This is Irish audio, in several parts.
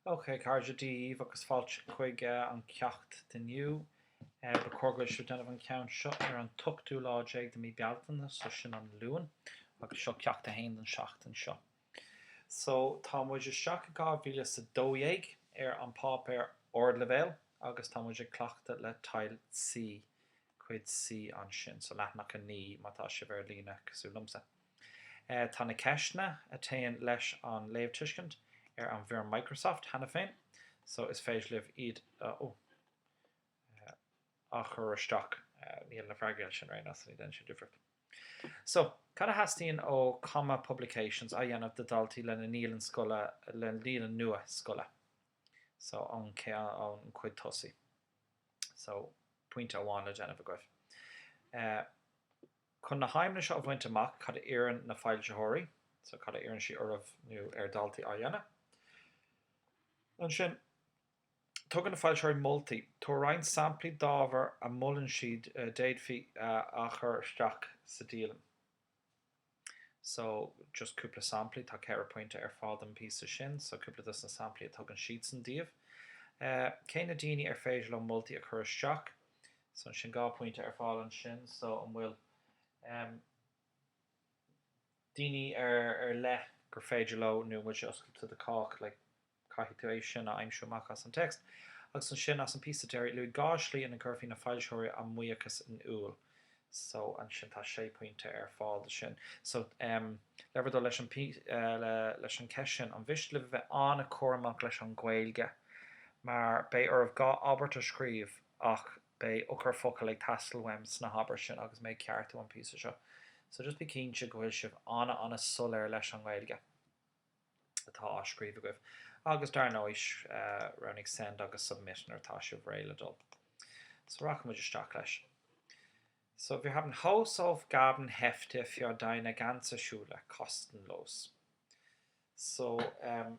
OK, a chairde, Dia daoibh agus fáilte chuig an ceacht d'inniu. Ba chóir go bhfuil sibh ag déanamh an cheann seo ar an t-ochtú lá déag de mí Bealtaine, so sin an Luan, agus seo ceacht a haon don seachtain seo. So, tá muid isteach i dhá mhíle is a dó dhéag ar an páipéar ardleibhéil agus tá muid ag cleachtadh le Teil C, cuid C ansin, so leathanach a naoi má tá sibh ar líne cosúil liomsa. Tá na ceisteanna a théann leis an léamhtuiscint ar an bhfoirm Microsoft cheana féin so is féidir libh iad a chur isteach. Níl na freagraí ansin, right, ní dhéanann siad difríocht. So, cad a theastaíonn ó Comma Publications a dhéanamh do dhaltaí lena ndialann scoile, lena ndialann nua scoile? So, an chuid tosaigh. So, pointe amháin le déanamh agaibh. Chun na haidhmeanna seo a bhaint amach, cad a iarrann na foilsitheoirí? So, cad a iarrann siad oraibh nó ar daltaí a dhéanamh? Ansin, tugann na foilsitheoirí moltaí. Tabhair roinnt samplaí d'ábhar a mholann siad a d'fhéadfaí a chur isteach sa dialann. So, just cúpla samplaí, tá ceithre phointe ar fáil don bpíosa sin, so cúpla dos na samplaí a tugann siadsan daoibh. Cé na daoine ar féidir leo moltaí a chur isteach? So sin dhá phointe ar fáil ansin. So an bhfuil em daoine ar ar leith gur féidir leo nó bhfuil sé oscailte do chách like caithfidh tú é sin a aimsiú amach as an text. Agus ansin as an bpíosa deiridh luaigh dhá slí ina gcuirfidh na foilsitheoirí a mbuíochas in iúl. So ansin tá sé pointe ar fáil do sin. So em le uimhir a dó leis an eh le leis an cheist sin ní miste libh a bheith an-chúramach leis an Ghaeilge mar beidh oraibh dhá abairt a scríobh, ach beidh eochairfhocail ag teastáil uaim sna habairtí sin agus mé ag ceartú an píosa seo, so just bí cinnte go bhfuil sibh an-an-soiléir leis an nGaeilge atá á scríobh agaibh. Agus dar ndóigh, roghnaigh Send agus Submit nuair atá sibh réidh le dul. So rachaidh muid isteach leis. So wir haben Hausaufgaben Hefte für deine ganze Schule, kostenlos. So, ehm.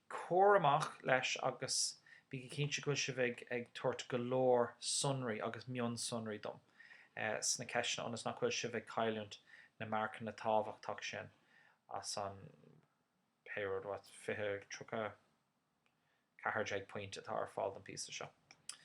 Cúramach leis agus bígí cinnte go bhfuil sibh ag tabhairt go leor sonraí agus mionsonraí dom sna ceisteanna ionas nach bhfuil sibh ag cailliúint na marcanna tábhachtach sin as an pé rud, what, 20, 34 pointe atá ar fáil don phíosa seo.